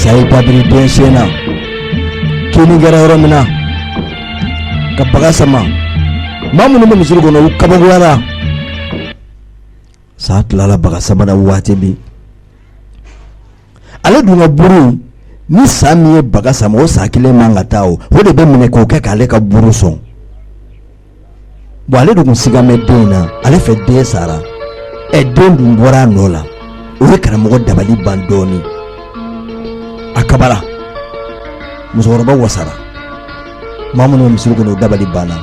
Sa y'a da biri den sen na kinni kɛra yɔrɔ min na ka baga sama maa minnu bɛ misiri kɔnɔ u kaba Sa tilala baga sama na waati min ale dun ka buru in ni sa min ye baga sama o sa kelen man ka taa o o de bɛ minɛ k'o kɛ k'ale ka buru sɔn bɔn ale dun siga bɛ den in na ale fɛ den sara ɛ den dun bɔra a nɔ la o ye karamɔgɔ dabali ban dɔɔnin a kabara musokɔrɔba wasara maa minnu bɛ misiri kɔnɔ o dabali banna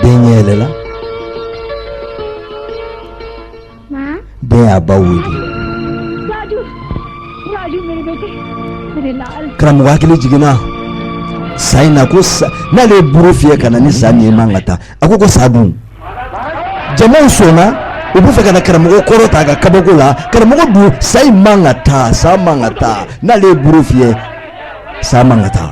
den ɲɛ yɛlɛla den y'a ba wele karamɔgɔ hakili jiginna sa in na ko n'ale ye buru fiyɛ ka na ni sa min ye man ka taa a ko ko sa dun jamaw sɔnna u bɛ fɛ ka na karamɔgɔ kɔrɔta a ka kabako la karamɔgɔ dun sa in man ka taa sa man ka taa n'ale ye buru fiyɛ sa man ka taa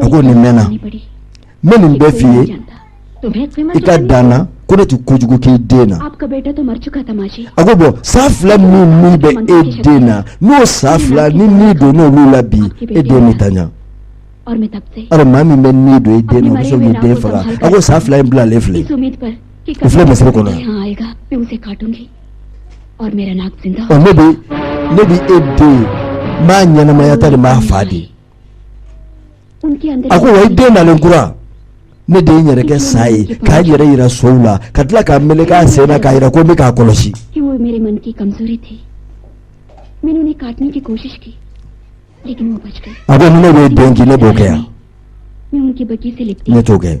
a ko nin mɛnna n bɛ nin bɛɛ f'i ye i ka da n na ko ne tɛ kojugu k'i den na a ko bɔn sa fila min min bɛ e den na n'o sa fila ni ni don n'olu la bi e den bɛ ta ɲa alors maa min bɛ ni don e den na o bɛ se k'i den faga a ko sa fila in bilalen filɛ o filɛ misiri kɔnɔ yan ɔ ne bɛ ne bɛ e den n b'a ɲɛnamaya ta de n b'a fa de a ko wa i den nalen kura ne de ye n yɛrɛ kɛ sa ye k'a yɛrɛ yira sow la ka tila ka meleke a sen na k'a yira ko n bɛ k'a kɔlɔsi a ko ni ne b'i den kin ne b'o kɛ yan ne t'o kɛ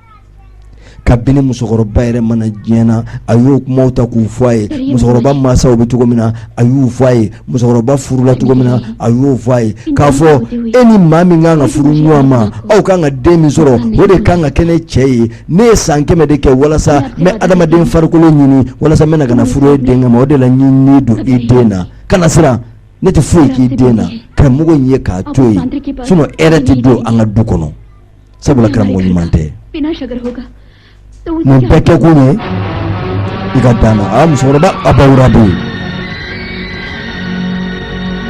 kabini musokɔrɔba yɛrɛ ma na diɲɛ na a y'o kumaw ta k'u fɔ a ye musokɔrɔba mansaw bɛ cogo min na a y'u fɔ a ye musokɔrɔba furula cogo min na a y'o fɔ a ye k'a fɔ e ni maa min kan ka furu ɲɔgɔn ma aw kan ka den min sɔrɔ o de kan ka kɛ ne cɛ ye ne ye san kɛmɛ de kɛ walasa n bɛ adamaden farikolo ɲini walasa n bɛna ka na furu e den ma o de la n ye ni don i den na kana siran ne tɛ foyi k'i den na karamɔgɔ in e k'a to yen sinon hɛrɛ tɛ don an ka du kɔnɔ sabula karamɔgɔ ɲuman tɛ nin bɛɛ kɛ kun ye i ka da n na a musokɔrɔba abawura bɛ yen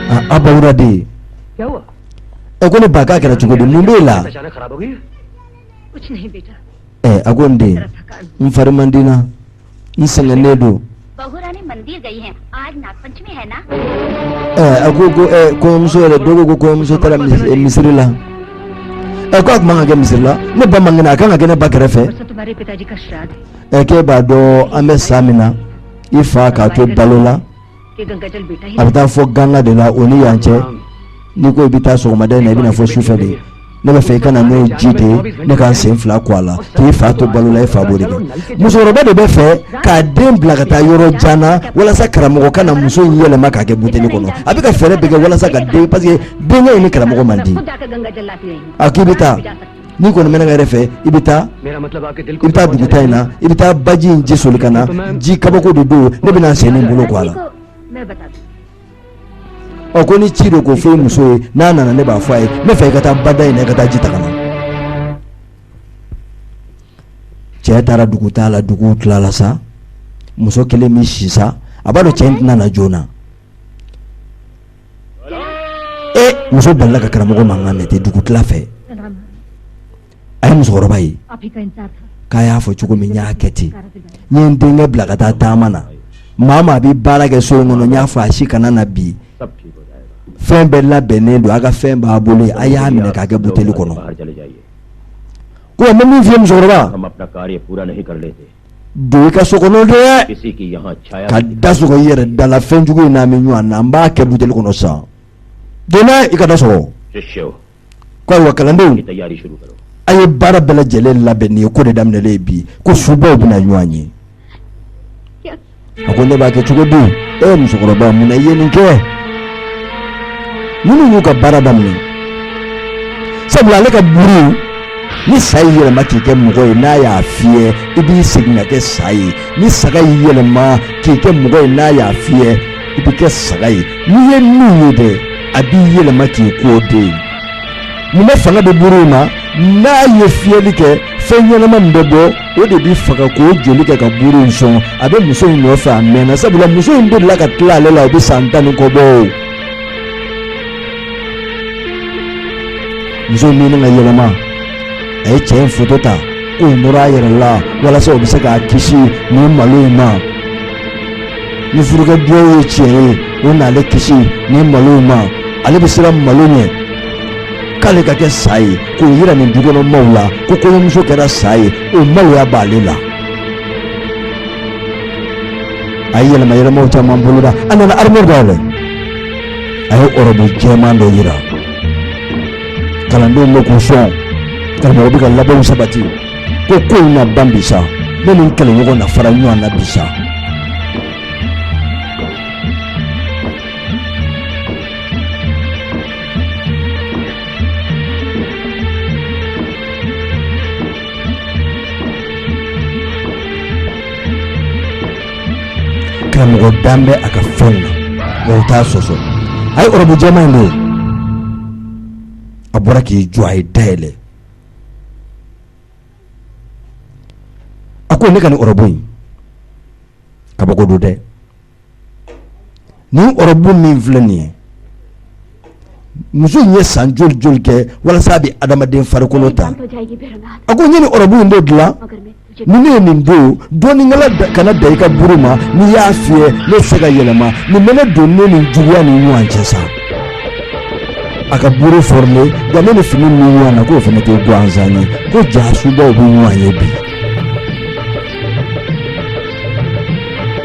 a abawura bɛ yen ɛ ko ne ba k'a kɛra cogo di mun b'e la ɛ a ko n den n fari man di n na n sɛgɛnnen don a ko ko kɔɲɔmuso yɛrɛ don ko ko kɔɲɔmuso taara misiri la ɛ k'a tun man ka kɛ misiri la ne ba man kɛnɛ a kan ka kɛ ne ba kɛrɛfɛ ɛ k'e b'a dɔn an bɛ san min na i fa k'a to balo la a bɛ taa fo ganga de la o ni yan cɛ n'i ko i bɛ taa sɔgɔmada in na i bɛ na fo sufɛ de ne bɛ fɛ i ka na n'o ji de ye ne ka n sen fila ko a la k'i fa to balo la i fa b'o de kɛ musokɔrɔba de bɛ fɛ k'a den bila ka taa yɔrɔ jan na walasa karamɔgɔ ka na muso in yɛlɛma k'a kɛ buteli kɔnɔ a bɛ ka fɛɛrɛ bɛɛ kɛ walasa ka den parce que denkɛ in ni karamɔgɔ man di a k'i bɛ taa n'i kɔni bɛ ne ka hɛrɛ fɛ i bɛ taa i bɛ taa dugutaa in na i bɛ taa baji in ji soli ka na ji kabako de don ne bɛna n sen ni n bolo ko a la ɔ ko ni ci don k'o fɔ i muso ye n'a nana ne b'a fɔ a ye ne fɛ i ka taa bada in na i ka taa ji ta ka na cɛ taara dugutaa la dugu tilala sa muso kelen bɛ si sa a b'a dɔn cɛ in tɛna na joona muso balala ka karamɔgɔ mankan mɛn ten dugutila fɛ a ye musokɔrɔba ye k'a y'a fɔ cogo min n y'a kɛ ten n ye denkɛ bila ka taa taama na maa maa bɛ baara kɛ so in kɔnɔ n y'a fɔ a si kana na bi fɛn bɛɛ labɛnnen don a ka fɛn b'a bolo a y'a minɛ k'a kɛ buteli kɔnɔ ko min fɛ musokɔrɔba don i ka so kɔnɔ de ka da sɔgɔ i yɛrɛ da la fɛnjugu in n'an bɛ ɲɔgɔn na an b'a kɛ buteli kɔnɔ sa donna i ka da sɔgɔ ko ayiwa kalandenw a ye baara bɛɛ lajɛlen labɛn nin ye ko de daminɛlen bi ko subaw bɛna ɲɔgɔn ye a ko ne b'a kɛ cogo di ee musokɔrɔba mun na i ye nin kɛ ninnu y'u ka baara daminɛ sabula ale ka buru ni sa y'i yɛlɛma k'i kɛ mɔgɔ ye n'a y'a fiyɛ i bɛ segin ka kɛ sa ye ni saga y'i yɛlɛma k'i kɛ mɔgɔ ye n'a y'a fiyɛ i bɛ kɛ saga ye n'i ye min ye dɛ a b'i yɛlɛma k'i k'o de ye mun na fanga bɛ buru in na n'a ye fiyɛli kɛ fɛn ɲɛnama min bɛ bɔ o de b'i faga k'o joli kɛ ka buru in sɔn a bɛ muso in nɔfɛ a mɛnna sabula muso in delila ka tila ale la o bɛ san tan ni kɔ bɔ o muso in bɛna yɛlɛma a ye cɛ in foto ta k'o nɔrɔ a yɛrɛ la walasa o bɛ se k'a kisi nin malo in ma ni furukɛ duwawu ye tiɲɛ ye o n'ale kisi nin malo in ma ale bɛ siran malo ɲɛ k'ale ka kɛ sa ye k'o yira nin dukɔnɔmaw la ko kɔɲɔmuso kɛra sa ye o maloya b'ale la a ye yɛlɛma yɛlɛmaw caman boloda a nana arimuwari dayɛlɛ a ye ɔrɔbu jɛman dɔ yira kalandenw la k'u sɔn karamɔgɔ bɛ ka labɛnw sabati ko ko in na ban bi sa ne ni n kɛlɛɲɔgɔn na fara ɲɔgɔn na bi sa Karamɔgɔ dan bɛ a ka fɛn na o t'a sɔsɔ a ye ɔrɔbu jɛman in don a bɔra k'i jɔ a ye da yɛlɛ a ko ne ka nin ɔrɔbu in kabako don dɛ Nin ɔrɔbu min filɛ nin ye muso in ye san joli joli kɛ walasa a bɛ adamaden farikolo ta a ko n ye nin ɔrɔbu in de dilan ni ne ye nin don dɔnnikɛla kana da i ka buru ma n'i y'a fiyɛ ne tɛ se ka yɛlɛma nin bɛ ne don ne ni juguya ni ɲɔgɔn cɛ sa a ka buru fɔlen nka ne ni fini min bɛ ɲɔgɔn na k'o fana tɛ gansan ye ko jaa subaw bɛ ɲɔgɔn ye bi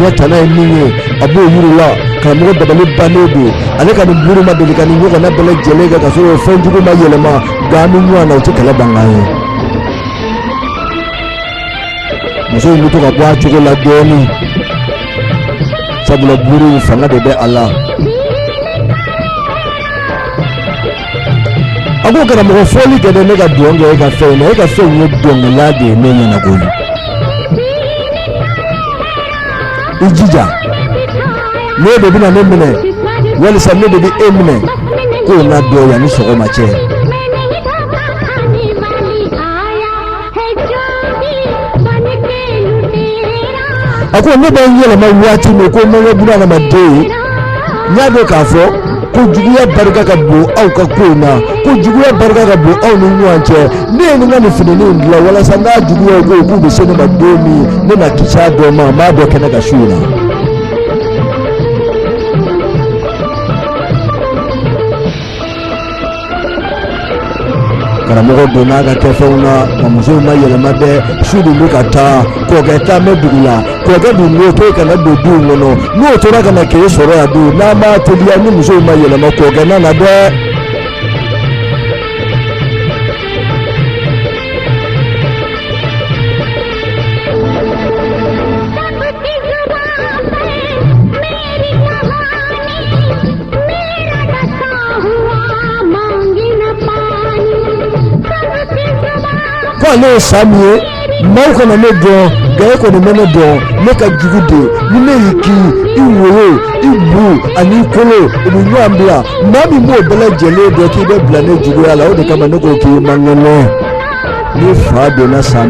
ɲɛ tana ye min ye a b'o yir'u la karamɔgɔ dabali bannen don ale ka nin buru ma deli ka nin ɲɔgɔnna bɛɛ lajɛlen kɛ ka sɔrɔ fɛn jugu ma yɛlɛma nka an bɛ ɲɔgɔn na o tɛ kɛlɛ bankan ye muso in bɛ to ka bɔ a cogo la dɔɔnin sabula buru in fanga de bɛ a la a ko karamɔgɔ fɔli kɛ dɛ ne ka dɔn kɛ e ka fɛn na e ka fɛn ye dɔnkɛla de ye ne ɲɛna koyi i jija n'e de bɛna ne minɛ walisa ne de bɛ e minɛ k'o na dɔn yanni sɔgɔma cɛ. a ko ne bɛ n yɛlɛma waati min ko n bɛ n kɛ buna adamaden ye n y'a dɔn k'a fɔ ko juguya barika ka bon aw ka ko in na ko juguya barika ka bon aw ni ɲɔgɔn cɛ ne ye n ka nin finini in dilan walasa n'a juguyaw ko k'u bɛ se ne ma don min ne na kisi a dɔ ma n b'a don kɛnɛ kan su in na. karamɔgɔ donna a ka kɛfɛnw na nka muso in ma yɛlɛma dɛ su dun bɛ ka taa kɔkɛ taa bɛ dugu la kɔkɛ dun b'o to kana don duw kɔnɔ n'o tora ka na k'e sɔrɔ yan dun n'an m'a teliya ni muso in ma yɛlɛma kɔkɛ nana dɛ. Ko ale ye sa min ye maaw kana ne dɔn nka e kɔni bɛ ne dɔn ne ka jugu dɛ ni ne y'i kin i wolo i bu ani i kolo u bɛ ɲɔgɔn bila maa min b'o bɛɛ lajɛlen dɔn k'i bɛ bila ne juguya la o de kama ne ko k'i man kɛnɛ ni fa donna sa